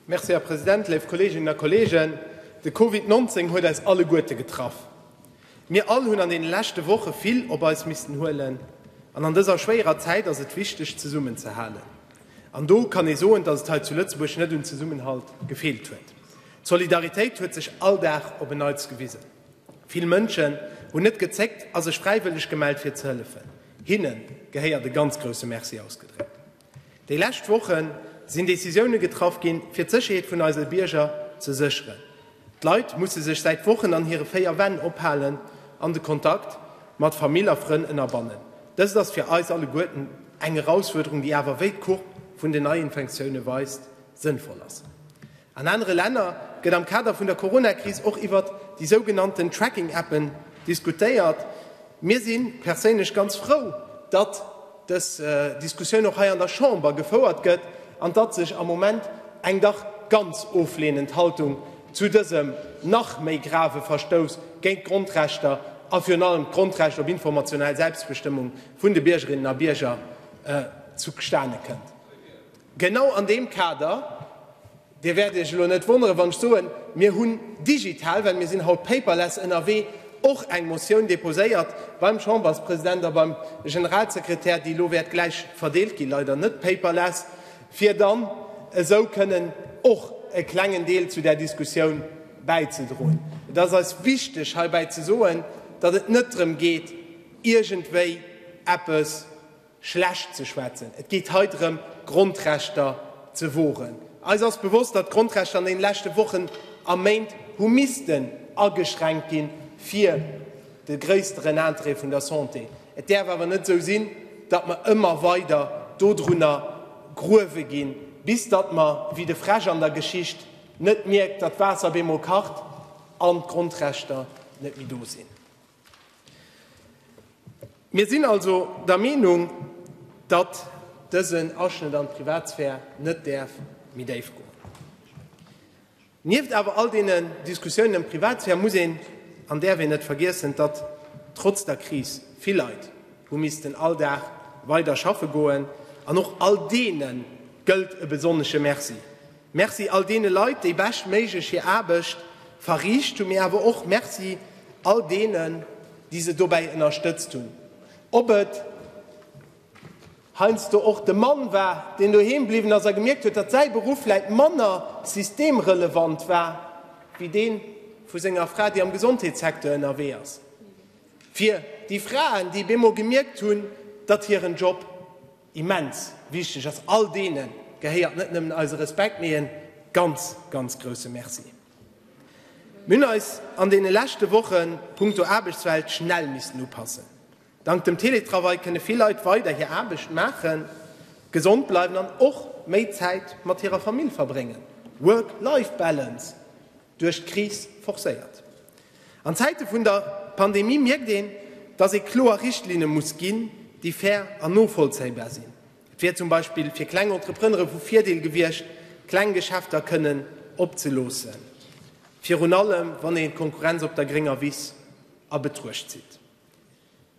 Merci, Här President. Léif Kolleeginnen a Kolleegen, de Covid 19 huet eis alleguerte getraff. Mir all hunn an deene leschte Woche vill op eis missten huelen an an dëser schwéierer Zäit ass et wichteg, zesummen ze halen. An do kann ee soen, dass et hei zu Lëtzebuerg net un Zesummenhalt gefeelt huet. D'Solidaritéit huet sech all Dag op en Neits gewisen. Vill Mënschen hunn net gezéckt a sech fräiwëlleg gemellt, fir ze hëllefen. Hinne gehéiert e ganz grousse Merci ausgedréckt. Déi lescht Woche sinn Decisioune getraff ginn, fir d'Sécherheet vun eise Bierger ze sécheren. D'Leit musse sech säit Wochen an hire véier Wänn ophalen an de Kontakt mat Famill a Frënn ënnerbannen. Dëst ass fir eis alleguerten eng Erausfuerderung, déi awer, wéi d'Courbe vun den Neiinfektioune weist, sënnvoll ass. An anere Länner gëtt am Kader vun der Coronakris och iwwert déi sougenannten Tracking-Appen diskutéiert. Mir si perséinlech ganz frou, datt dës Diskussioun och hei an der Chamber gefouert gëtt an datt sech am Moment eng dach ganz oflehnend Haltung zu dësem nach méi grave Verstouss géint d'Grondrechter a virun allem d'Grondrecht op informationell Selbstbestëmmung vun de Biergerinnen a Bierger zustane kënnt. Genau an deem Kader, Dir wäert Iech elo net wonneren, wann ech soen, mir hunn digital, well mir sinn haut paperless ënnerwee, och eng Motioun deposéiert beim Chamberspresident a beim Generalsekretär, déi elo wäert gläich verdeelt ginn, leider net paperless, fir dann esou kënnen och e klengen Deel zu där Diskussioun bäizedroen. Et ass eis wichteg heibäi ze soen, datt et net drëm geet, iergendwéi eppes, schlecht ze schwätzen. Et geet hei drëm, d'Grondrechter ze woren. Eis ass bewosst, datt d'Grondrechter an deene leschte Wochen a Méint hu missten ageschränkt ginn, fir de gréissteren Interêt vun der Santé. Et däerf awer net esou sinn, datt mer ëmmer weider dodrunner gruewe ginn, bis datt mer, wéi de Fräsch an der Geschicht, net mierkt, datt d'Waasser op eemol kacht an d'Grondrechter net méi do sinn. Mir sinn also der Meenung, datt dësen Aschnëtt an d'Privatsphär net däerf méi déif goen. Nieft awer all deene Diskussiounen ëm d'Privatsphär muss een an däerf een net vergiessen, datt trotz der Kris vill Leit hu missten all Dag weider schaffe goen. An och all deene gëllt e besonnesche Merci. Merci all deene Leit, déi beschtméiglech hir Aarbecht verriicht hunn, mee awer och Merci all deenen, déi se dobäi ënnerstëtzt hunn, ob et heiansdo och de Mann war, deen doheem bliwwen ass a gemierkt huet, datt säi Beruff vläit manner systemrelevant war wéi dee vu senger Fra, déi am Gesondheetssecteur ënnerwee ass, fir déi Fraen, déi op eemol gemierkt hunn, datt hiren Job Immens wichteg ass. All deenen gehéiert net nëmmen eise Respekt, mee e ganz, ganz grousse Merci. Mir hunn eis an deene leschte Woche punkto Aarbechtswelt schnell missen upassen. Dank dem Teletravail kënne vill Leit weider hir Aarbecht maachen, gesond bleiwen an och méi Zäit mat hirer Famill verbréngen. Work-Life-Balance! duerch d'Kris forcéiert. An Zäite vun der Pandemie mierkt een, datt ee kloer Richtlinne muss ginn, déi fair an novollzéibar sinn. Et wier zum Beispill fir kleng Entreprenere vu Virdeel gewiescht, kleng Geschäfter kënnen opzeloossen, virun allem wann een d'Konkurrenz op der grénger Wiss a Betruecht zitt.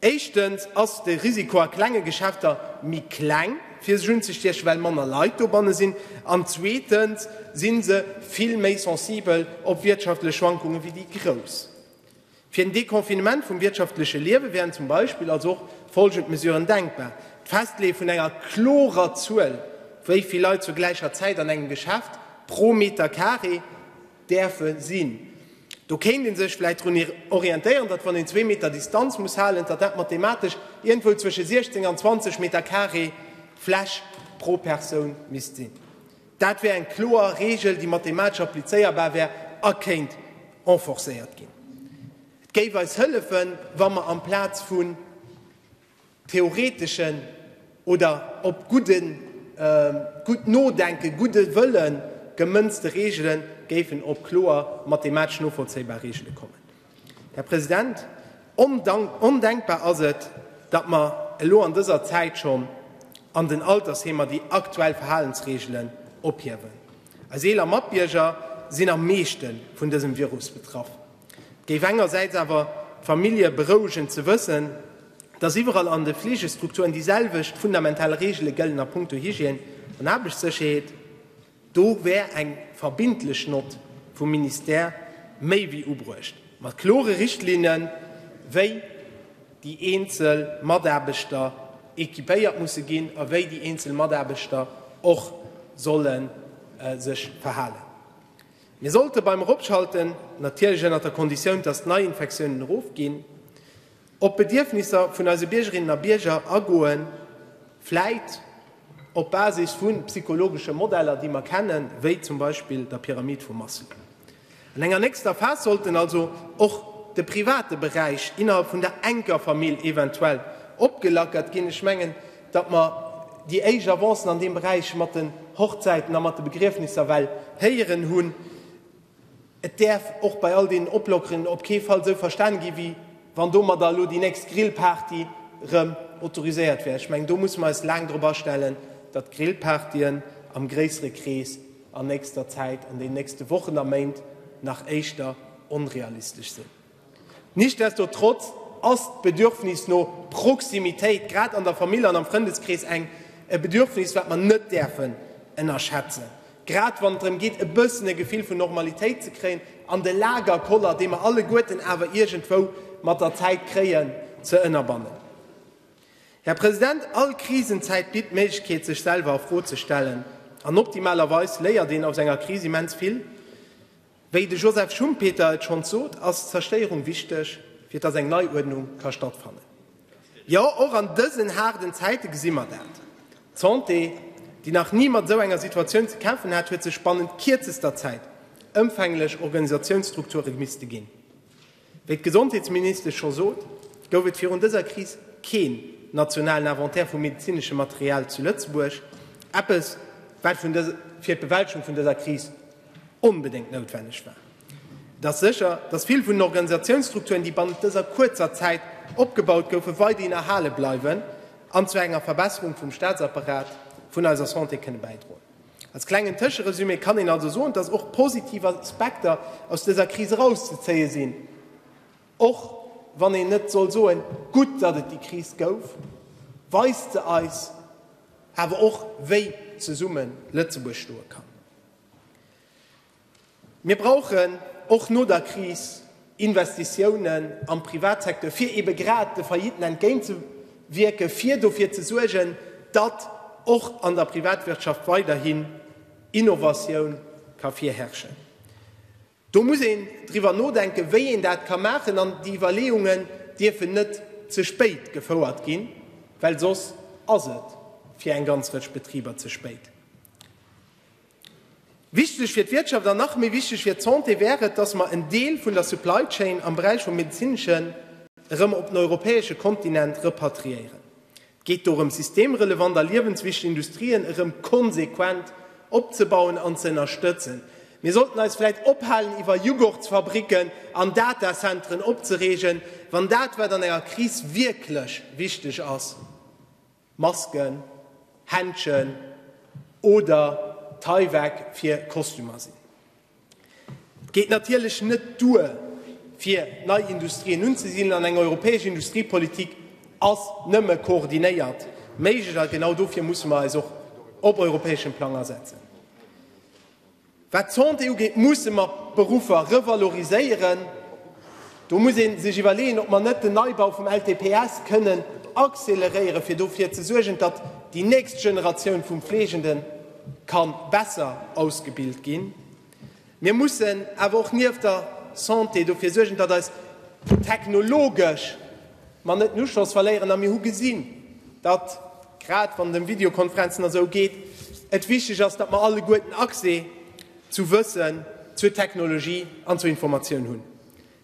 Éischtens ass de Risiko a klenge Geschäfter méi kleng, fir sech unzestiechen, well manner Leit dobanne sinn. An zweetens si se vill méi sensibel op wirtschaftlech Schwankunge wéi déi grouss. Fir den Deconfinement vum wirtschaftleche Liewe wären zum Beispill also och folgend Mesuren denkbar, D'Festleeë vun enger klorer Zuel, wéi vill Leit zur gläicher Zäit an engem Geschäft pro Meter Carré, däerfe sinn. Do kéint ee sech vläicht drun orientéieren, datt, wann een zwee Meter Distanz muss halen, datt dat mathematesch iergendwou zwësche 16 an 20 Meter carré Fläch pro Persoun misst sinn. Dat wär eng kloer Reegel, déi mathematesch applizéierbar wär a kéint enforcéiert ginn. Et géif eis hëllefen, wa mer amplaz vu theoreteschen oder op gudden, gutt Nodenken, gudde Wëllen gemënzte Reegelen géifen op kloer mathematesch novollzéibar Reegele kommen. Här President, ondenkbar ass et, datt mer elo an dëser Zäit schonn an den Altersheemer déi aktuell Verhalensreegelen ophiewen. Eis eeler Matbierger sinn am meeschte vun dësem Virus betraff. Et géif engersäits awer d'Famillje berouegen ze wëssen, datt iwwerall an de Fleegestrukturen déi selwecht fundamental Reegele gëllen a Punkto Hygiène an Aarbechtssécherheet. Do wär eng verbindlech Nott vum Ministère méi wéi ubruecht, mat klore Richtlinne wéi déi eenzel Mataarbechter equipéiert musse ginn a wéi déi eenzel Mataarbechter och solle sech verhalen. Mir sollte beim Eropschalten, natierlech ënnert der Konditioun, dass d'Neiinfektiounen erofginn, op d'Bedierfnisser vun eise Biergerinnen a Bierger agoen, vläit op Basis vu psychologesche Modeller, déi mer kennen, wéi zum Beispill der Pyramid vu Maslow. An enger nächster Phas sollten also och de private Beräich innerhalb vun der enker Famill eventuell opgelackert ginn. Ech mengen, datt mer déi éischt Avancen an deem Beräich mat den Hochzäiten a mat de Begriefnisser well héieren hunn. Et däerf och bei all deenen Oplockeren op kee Fall esou verstane ginn, wéi wann domadder elo déi nächst Grillparty erëm autoriséiert wär. Ech mengen, do musse mer eis laang drop astellen, datt Grillpartyen am gréissere Krees an nächster Zäit, an deenen nächste Wochen a Méint nach éischter onrealistesch sinn. Nichtsdestotrotz ass d'Bedürfnis no Proximitéit, grad an der Famill an am Frëndeskrees, eng e Bedürfnis, wat mer net däerfen ënnerschätzen, grad wann et drëm geet, e bëssen e Gefill vun Normalitéit ze kréien an de Lagerkoller, dee mer alleguerten awer iergendwou mat der Zäit kréien, ze ënnerbannen. Här President, all Krisenzäit bitt d'Méiglechkeet, sech selwer a Fro ze stellen, an optimalerweis léiert een aus enger Kris immens vill. Wéi de Joseph Schumpeter et schonns sot, ass d'Zerstéierung wichteg, fir dass eng Neiuerdnung ka stattfannen. Jo, och an dësen haarden Zäite gesi mer dat. D'Santé, déi nach ni mat esou enger Situatioun ze kämpfen hat, huet sech bannent kierzester Zäit ëmfänglech Organisatiounsstrukture gemisste ginn. Wéi d'Gesondheetsministesch scho sot, gouf et virun dëser Kris keen nationalen Inventaire vum medezineschem Material zu Lëtzebuerg, eppes wat fir d'Bewältschung vun dëser Kris onbedéngt noutwenneg war. Et ass sécher, datt vill vun den Organisatiounsstrukturen, déi bannent dëser kuerzer Zäit opgebaut goufen, weiderhin erhale bleiwen an zu enger Verbesserung vum Staatsapparat vun eiser Santé kënne bäidroen. Als klengen Tëscheresumé kann een also soen, dass och positiv Aspekter aus dëser Kris erauszezéie sinn, och wann een net soll soen, Gutt, datt et déi Kris gouf, weist se eis awer och, wéi zesumme Lëtzebuerg stoe kann. Mir brauchen och no der Kris Investitiounen am Privatsecteur, fir eebe grad de Failliten entgéintzewierken, fir dofir ze suergen, datt och an der Privatwirtschaft weiderhin Innovatioun ka virherrschen. Do muss een driwwer nodenken, wéi een dat ka maachen. An déi Iwwerleeungen dierfen net ze spéit gefouert ginn, well soss ass et fir eng ganz Rëtsch Betriber ze spéit. Wichteg fir d'Wirtschaft an nach méi wichteg fir d'Santé wär et, datt mer en Deel vun der Supply Chain am Beräich vum Medezineschen erëm op den europäesche Kontinent repatriéieren. Et geet dorëm, systemrelevant a liewenswichteg Industrien erëm konsequent opzebauen an ze ënnerstëtzen. Mir sollten eis vläicht ophalen, iwwer Jughurtsfabricken an Datacenteren opzereegen, wann dat, wat an enger Kris wierklech wichteg ass, Masken, Händschen oder Tyvek fir Kostümer sinn. Et geet natierlech net duer, fir nei Industrien unzesidelen, an eng europäesch Industriepolitik ass nëmme koordinéiert méiglech. A genau dofir musse mer eis och op europäeschem Plang asetzen. Wat d'Santé ugeet, musse mer d'Beruffer revaloriséieren. Do muss ee sech iwwerleeën, ob mer net den Neibau vum LTPS kënnen acceleréieren, fir dofir ze suergen, datt déi nächst Generatioun vu Fleegende ka besser ausgebilt ginn. Mir mussen awer och nieft der Santé dofir suergen, datt eis technologesch mer net den Uschloss verléieren a mir hu gesinn, datt, grad wann et ëm Videokonferenzen a sou geet, et wichteg ass, datt mer alleguerten Accès zu Wëssen, zur Technologie an zur Informatioun hunn.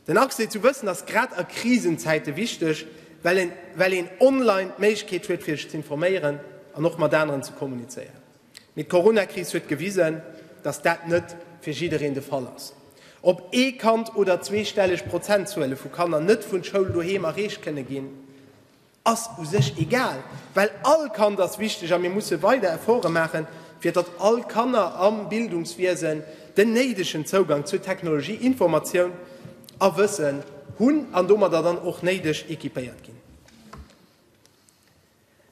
Den Accès zu Wëssen ass grad a Krisenzäite wichteg, well een online d'Méiglechkeet huet, fir sech ze informéieren an och mat aneren ze kommunizéieren. Mee d'Coronakris huet gewisen, datt dat net fir jiddereen de Fall ass. Ob ee Kand oder zweestelleg Prozentzuele vu Kanner net vun Schoul doheem erreecht kënne ginn, ass u sech egal, well all Kand ass wichteg a mir musse weider Efforte maachen, fir datt all Kanner am Bildungswiesen den néidegen Zougang zu Technologie, Informatioun a Wëssen hunn an domadder dann och néideg equipéiert ginn.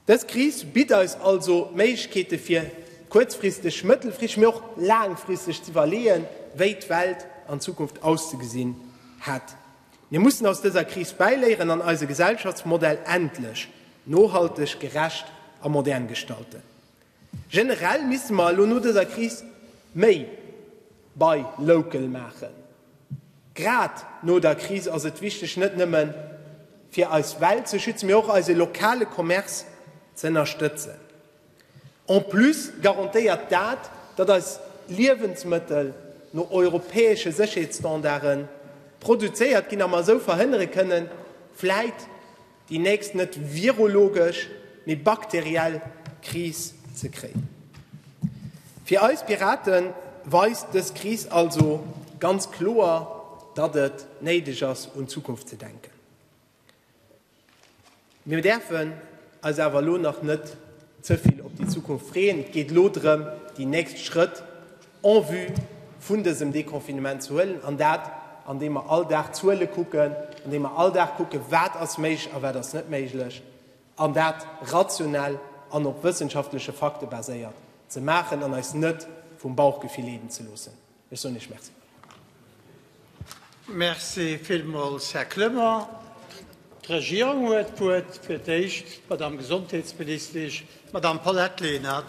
Dës Kris bitt eis also d'Méiglechkeete fir kuerzfristeg, mëttelfristeg, mee och laangfristeg ze iwwerleeën, wéi d'Welt an Zukunft auszegesinn hätt. Mir mussen aus dëser Kris bäiléieren an eise Gesellschaftsmodell endlech nohalteg, gerecht a modern gestalten. Generell misste mer elo no dëser Kris méi bei local maachen. Grad no der Kris ass et wichteg, net nëmme fir eis Welt ze schützen, mee och eise lokale Commerce ze ënnerstëtzen. En plus garantéiert dat, datt eis Liewensmëttel no europäesche Sécherheetsstandarde produzéiert ginn a mer esou verhënnere kënnen, vläit, déi nächst net virologesch, mee bakteriell Kris ze kréien. Fir eis Pirate weist dës Kris also ganz kloer, datt et néideg ass un d'Zukunft ze denken. Mir däerfen eis awer elo nach net ze vill op déi Zukunft freeën. Et geet elo drëm, déi nächst Schrëtt en vue vun dësem Déconfinement ze huelen, an dat andeem mer all Dag d'Zuele kucken, andeem mer all Dag kucken, wat ass méiglech a wat ass net méiglech, an dat rationell an op wëssenschaftleche Fakte baséiert ze maachen an eis net vum Bauchgefill leeden ze loossen. Ech soen Iech Merci. Merci villmools, Här Clement. D'Regierung huet d'Wuert, fir d'éischt d'Madamm Gesondheetsministesch, d'Madamm Paulette Lenert.